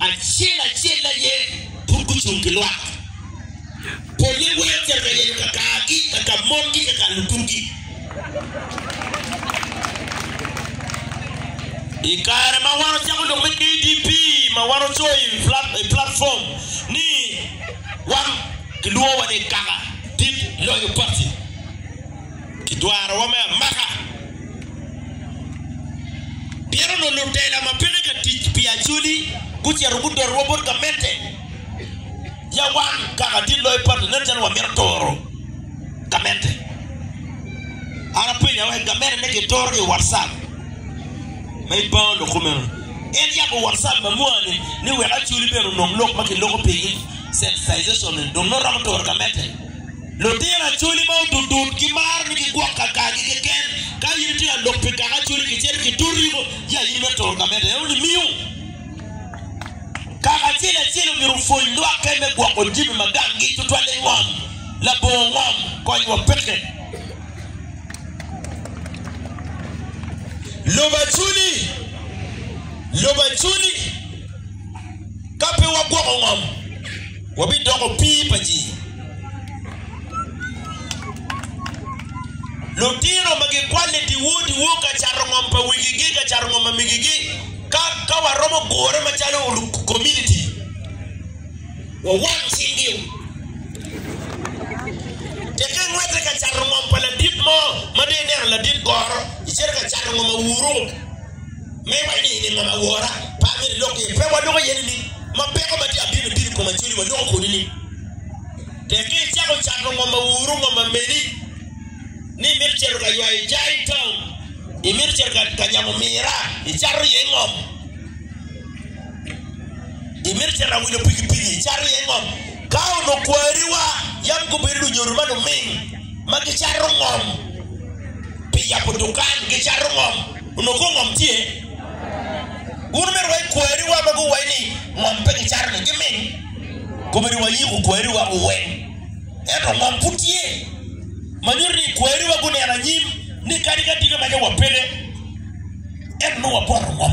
Acel acel aye pud gucung ki lwak. Polle weko cer ka yenyo kakargi, kaka mongi, kaka lukugi. I kare ma wan ocako lok me KDP ma wan ocoyo i platform ni wan kilwongowa ni kaka dit loyo party. Kidwarowa me amaka pien onongo lutela ma peke ka tic pi Acholi gucito gudotowa bot gamente. Ya wan kaka tye loyo patti nen calo wamito toro gamente. An apenyo wek gamente ne gitoro ki i WhatsApp ma i baa onongo kumeno. En yabo WhatsApp ma mwani ni wek Acholi bene onong lok ma kiloko pigi, sensitization, dong nongo romo toro gamente. Lutino Acholi ma Odudut gimaro ni gigwok kakagi keken. Ka in itye ka lok pi Kaka Acholi kicito ki Toti mo, ya in me toro ka mede. Eno ni miyo Kaka acel acel omyero opwony lwakke me gwoko jami ma ganggi tutwal i ngom, labongo ngom, kony wa peke. Lobo Acholi Lobo Acholi Ka pe wagwoko ngom, wabidoko opii pa ji. Lutino ma gikwanni diwu diwu ka cato ngom pa wigigi, ka cato ngom pa migigi. Ka ka waromo gure macalo kominiti, wawang cinggi. Teke ingwete ka cato ngom pa ladit mo ma dong ineno ladit goro, icito ka cato ngom awuru. Ma iwaco ni eni ngom awora, pe amito ilok iye. Pe waloko iye nining? Ma peko ma tye abino bino i koma cwinyi, waloko kwede nining? Tek ka icako cato ngom ma wuru ngom ma meni ni imito cito ka ywayo jai tong, imito cito ka nyamo mira, icato iye ngom, imito cito ka wilo pikipiki, icato iye ngom. Ka onongo kwariwa yam gubedo lunyodo ma luming ma gicato ngom pi yabo dukan, gicato ngom, onongo kong ngom tye? Wun omyero wa ikwariwa ma guwaci ni ngom pe gicato-ni giming. Kobedo wayiko kwariwa weng, ento ngom pud tye ma nyuto ni kwariwa guneno anyim ni kadi ka tika meja wa peke, ento nongo wapoto ngom.